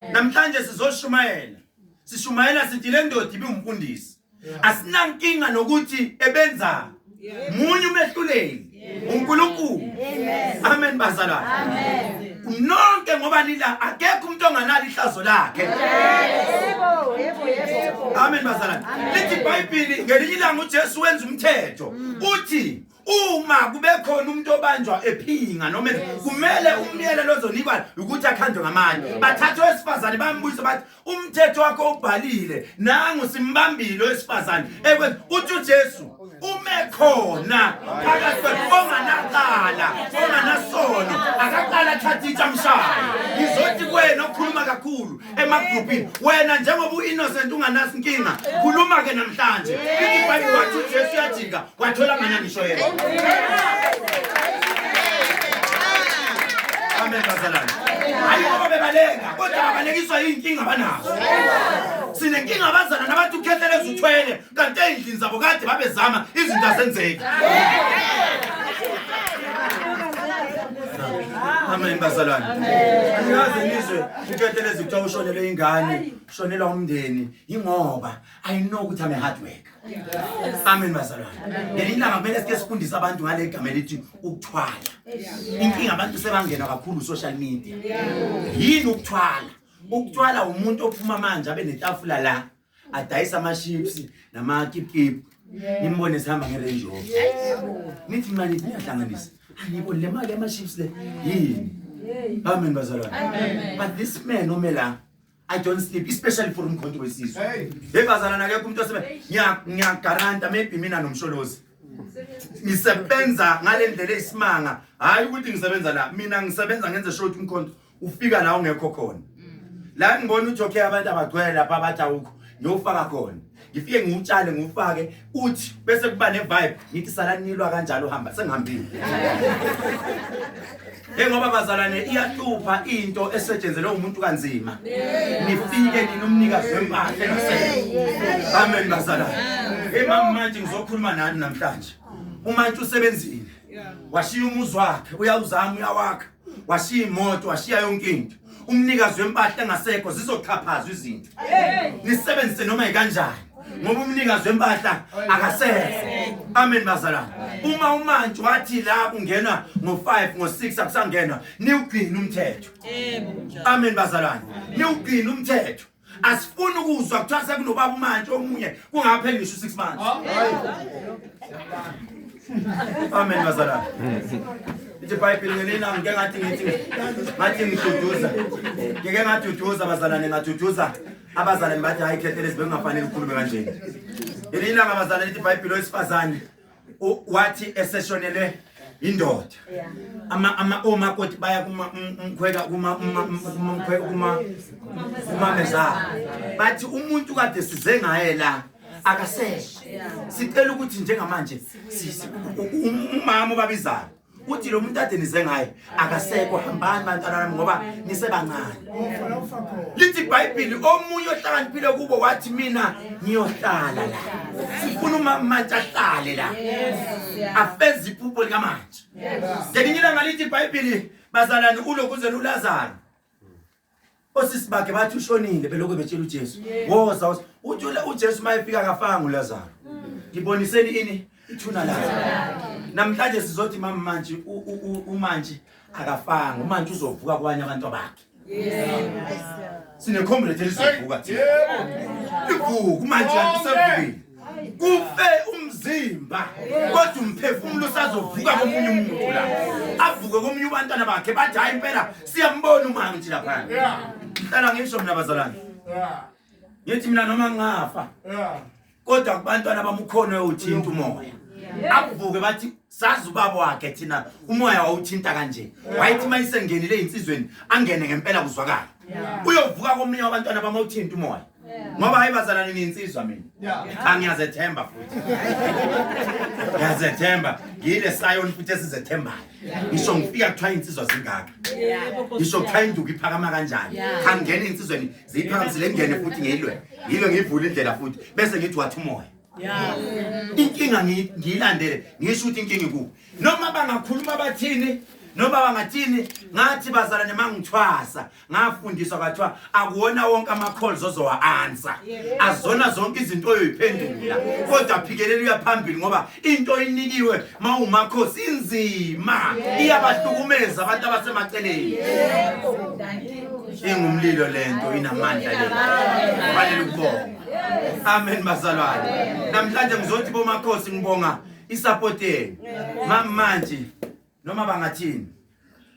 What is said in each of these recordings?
namhlanje sizoshumayela sishumayela sithi le ndoda ibiwumfundisi asinankinga nokuthi ebenzani munye umehluleli uNkulunkulu amen bazalwane amen nonke ngoba nila akekho umuntu onganalo ihlazo lakhe yebo yebo yebo amen bazalwane lithi ibhayibhili ngelinye ilanga uJesu wenza umthetho uthi uma kube khona umuntu obanjwa ephinga noma kumele umyelelo ozonikwa ukuthi akhandwe ngamanye bathathe owesifazane bambuyise bathi umthetho wakho ubhalile nangu simbambile owesifazane ekwenza uthi ujesu ume khona phakathi onganaqala onganasono akaqala athathe itshamshayo ngizothi kwena okhuluma kakhulu emagruphini wena njengoba u-innocent unganasi nkinga khuluma ke namhlanje ithi ibhayibhile wathi ujesu uyajika wathola ngana ngisho yena amen bazalwane hayi ngoba bebaleka kodwa babalekiswa yiy'nkinga abanazo sinenkinga abazana nabathi ukhetheleza uthwele kanti ey'ndlini zabo kade babezama izinto azenzeki amen bazalwane anikaze nizwe uketelezi kuthiwa ushonele ingane ushonela umndeni yingoba i know ukuthi ame hard work amen bazalwane ngelinye ilanga kumele sike sifundise abantu ngale gama elithi ukuthwala inkinga abantu sebangena kakhulu social media yini ukuthwala ukuthwala umuntu ophuma manje abe netafula la adayisa ama-ships namakipkip nimbone sihamba nge-range rover nithi mna nithi niyahlanganisa angiboni le mali yama-ships le yini amen bazalwane but this man ome la I don't sleep, especially for umkhonto wesizwe. Hey, hey bazalana akekho umuntu osebe ngiya ngiyagaranta maybe mina nomsholozi. Ngisebenza ngalendlela eyisimanga. Hayi ukuthi ngisebenza la, mina ngisebenza ngenze sure ukuthi umkhonto ufika la ungekho khona la ngibona ukuthi okay abantu abagcwele lapha abathi awukho ngiyofaka khona ngifike ngiwutshale ngiwufake uthi bese kuba ne-vibe ngithi salanilwa kanjalo uhamba sengihambile njengoba bazalwane iyahlupha into esetshenzelwe umuntu kanzima nifike nina umnikazi wempahla amen bazalwane emama manje ngizokhuluma nani namhlanje umantshi usebenzile washiya umuzi wakhe uyawuzama uyawakha washiya imoto washiya yonke into umnikazi wempahla engasekho zizoxhaphazwa izinto nisebenzise noma yikanjani ngoba umnikazi wempahla akasekho amen bazalwane uma umanje wathi la kungena ngo-5 ngo-6 akusangenwa niwugcina umthetho amen bazalwane niwugcina umthetho asifuni ukuzwa kuthiwa sekunobaba umantshi omunye kungapheli ngisho u-six months amen bazalana ithi ibhayibhile ngelina ngike ngathi ngithi ngathi ngiduduza ngike ngaduduza bazalane ngaduduza abazalane bathi hayi khethelezi bekungafanele ukhulume kanjeni ngelinye ilanga bazalane lithi ibhayibhile owesifazane wathi eseshonelwe indoda ama ama omakoti baya kuma umkhweka kuma umkhweka kuma kuma meza bathi umuntu kade size ngaye la akaseshe sicela ukuthi njengamanje umama ubabizayo uthi lo muntu ade nize ngaye akasekho hambani bantwana nami ngoba nisebancane lithi ibhayibhili omunye ohlakaniphile kubo wathi mina ngiyohlala la sifuna umamantshi ahlale la afeze iphupho likamantshi ngelinye ilanga lithi ibhayibhili bazalwane ulokuzela ulazaro osisi bakhe bathi ushonile belokhu betshela uJesu woza woza uthi ule- uJesu uma efika akafanga uLazaro ngiboniseni ini ithuna lakhe namhlanje sizothi mama manje u- u- u- umanje akafanga umanje uzovuka kwanye abantu bakhe sinecomrade elizovuka thina livuka umanje kanti usevukile kufe umzimba kodwa umphefumulo usazovuka komunye umuntu la avuke komunye ubantwana bakhe bathi hayi impela siyambona umama nje lapha hlala ngisho mina bazalwane ngithi mina noma ngafa kodwa kubantwana bamukhona uthinta umoya akuvuke bathi sazi ubaba wakhe thina umoya wawuthinta kanje wayithi uma isengenile eyinsizweni angene ngempela kuzwakala uyovuka komunye wabantwana bama uthinta umoya ngoba hayi bazalwane niyinsizwa mina angiyazethemba futhi ngiyazethemba ngiyile sayoni futhi esizethembayo ngisho ngifika kuthiwa iy'nsizwa zingaka ngisho kuthiwa induku iphakama kanjani angingena iy'nsizweni ziyiphakamisile ngingene futhi ngiyilwe ngiyilwe ngiyivule indlela futhi bese ngithi wathi umoya inkinga ngiyilandele ngisho ukuthi inkinga ikubo noma bangakhuluma bathini noma bangathini ngathi bazalane mangithwasa ngafundiswa kwathiwa akuwona wonke ama-calls ozowa-ansa azona zonke izinto oyoyiphendula kodwa phikelela uyaphambili ngoba into oyinikiwe ma umakhosi inzima iyabahlukumeza abantu abasemaceleni ingumlilo le nto inamandla le kufanele ukubonga amen bazalwane namhlanje ngizothi bomakhosi ngibonga isapoti yenu mamanje noma bangathini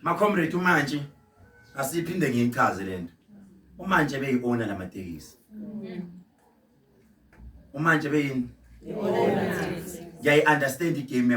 macomrade umantshi asiphinde ngiyichaze lento umantshi ebeyiona lamatekisi umantshi ebeyini ngiyayi understand igame